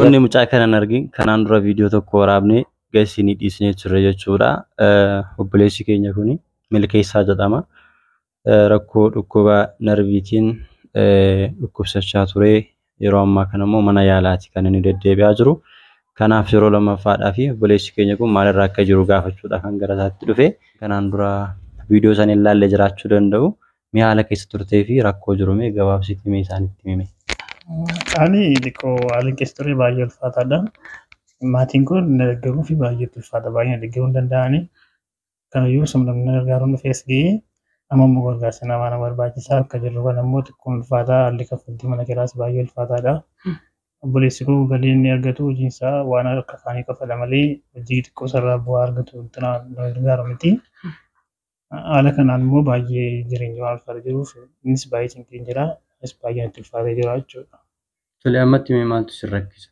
Wanni mucaa kana hin argin kanaan dura viidiyoo tokko waraabne gasiinii dhiisnee turre jechuudha. Obboleessi keenya kun milkeessaa jedhama. Rakkoo dhukkuba narviitiin dhukkubsachaa ture Yeroo ammaa kana immoo mana yaalaati kan inni deddeebi'aa jiru. Kanaaf yeroo lammaffaadhaa fi obboleessi keenya kun maalirra akka jiru gaafachuudhaaf kan gara isaatti dhufe. Kanaan dura viidiyoo sana hin laalle jiraachuu danda'u. Mee haala keessa turtee fi rakkoo jiru mee gabaabsiitii mee isaanitti himi mee. Ani xiqqoo haalli keessa ture baay'ee ulfaataadha. Maatiin kun na deeggaruu fi baay'ee itti ulfaata. Baay'ee na deeggaruu hin danda'ani. Kanayyuu simlamni gargaaruun dhufees ga'ee amma immoo gargaarsa namaa na barbaachisa akka jirru kana immoo xiqqoo ulfaataa haalli kaffaltii mana kiraas baay'ee ulfaataadha. Obboleessi koo galii inni argatu hojiin isaa waan akka kaanii kafala malee hojii xiqqoo sarraa bu'aa argatu wanti na gargaaru miti. Haala kanaan immoo baay'ee jireenya waan ulfaata jiruuf innis baay'ee cinqeen jira. Innis baay'ee natti ulfaatee jira jechuudha. Tole ammatti mee maaltu si rakkisa?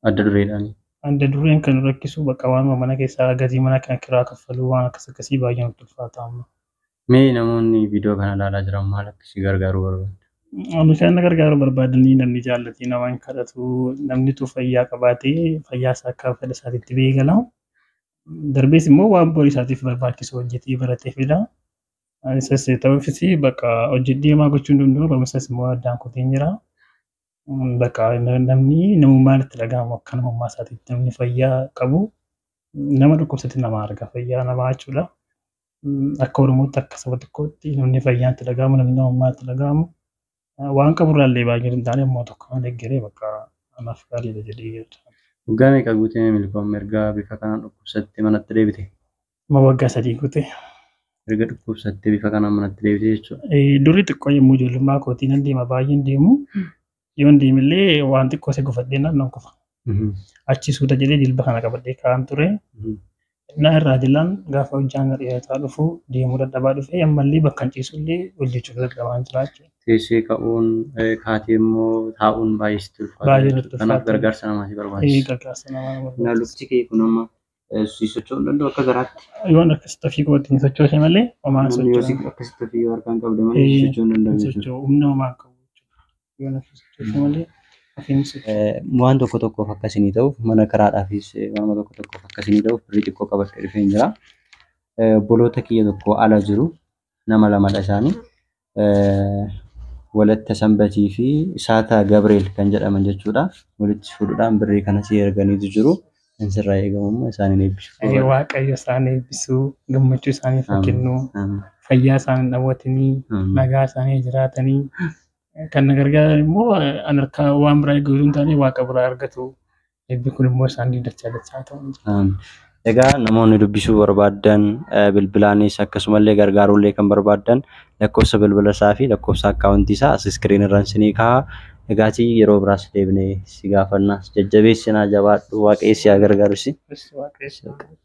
adda dureedhaani. Adda dureen kan nu rakkisu bakka waanuma mana keessaa gatii mana kan kiraa kaffaluu waan akkas akkasii baay'ee nutti ulfaata amma. Mee namoonni viidiyoo kana ilaalaa jiran maal akka si gargaaruu barbaadda? Ani kan na gargaaruu barbaadanii namni jaallatee nama hin kadhatu namni utuu fayyaa qabaatee fayyaa isaa akka fedha isaatiitti ba'ee gala. Darbees immoo waan borii isaatiif barbaachisu hojjetee baratee fida. Isas ta'uufis bakka hojjedhee maa gochuu hin danda'u barumsas immoo addaan kutee jira. Bakka namni namummaan itti dhaga'amu akka namummaa isaatiitti namni fayyaa qabu nama dhukkubsate nama arga fayyaa namaa jechuudha. Akka Oromootti akka saba tokkootti namni fayyaan itti dhaga'amu namni namummaa itti dhaga'amu waan qaburraa illee baay'ee hin taane immoo tokko kan deeggaree bakka anaaf gaariidha jedhee yaada. Waggaa meeqa guutee milkoomni erga bifa kanaan dhukkubsatte manatti deebite? Amma waggaa sadii guute. Erga dhukkubsattee bifa kanaan manatti deebitee jechuudha. Eh, Durri xiqqoo yommuu ijoollummaa kootii nan deema baay'een deemu. Yoon deemillee waan xiqqoo isa gufadhee nan nan kufa. Achi suuta jedhee jilba kana qabadhee kaa'an ture. Innaa irraa dilaan gaafa hojjaan na dheerataa dhufu deemuu dadhabaa dhufee ammallee bakka hin ciisullee hojjechuuf dadhabaan jira jechuudha. Teessee ka'uun eh, kaatee immoo taa'uun baay'ee sitti ulfaata. Baay'ee jechuudha. natti Kanaaf ulfaata. gargaarsa namaa si Eh, barbaachisa. Gargaarsa namaa na Na barbaachisa. lukti kee kun amma Si socho'uu hin danda'u akka garaatti. Yoon akkasitti ofii kootiin hin sochoose malee homaa hin Namni yoo si socho'u. akkasitti ofii yoo harkaan qabde malee si socho'uu hin danda'u jechuudha. Socho'u humna homaa hin qabu jechuudha. Yoon ofii sochoose malee ofii hin socho'u. Eh, waan tokko tokkoof akka isinii ta'uuf mana kiraadhaafis eh, waanuma tokko tokkoof akka isinii ta'uuf birrii xiqqoo qabadhee dhufeen jira. Eh, Obboloota kiyya tokko ala jiru nama lamadha isaanii. Walatta Sanbatii fi Saataa Gabreel kan jedhaman jechuudha. Walitti fuudhuudhaan birrii kana si erganiitu jiru. Kan sirraa eegamu immoo isaaniin eebbisuu Ee, qofaadha. Waaqayyo isaan eebbisu, gammachuu isaaniif haa Amiin. kennu, Amiin. fayyaa isaan hin dhawwatinii, Amiin. nagaa isaanii jiraatanii. Kan na gargaaran immoo an harkaa waan biraa eeguu hin taane waaqa biraa argatu. Eebbi kun immoo isaanii dachaa dachaa ta'u. Amen. Egaa namoonni dubbisuu barbaaddan eh, bilbilaanis akkasumallee gargaaruullee kan barbaaddan lakkoofsa bilbila isaa fi lakkoofsa akkaawuntii isaa as iskiriin irraan sinii kaha. Egaatii yeroo biraas deebinee si gaafanna. Jajjabeessinaa jabaadhu waaqayyo si haa gargaaru si. Waaqayyo si haa gargaaru.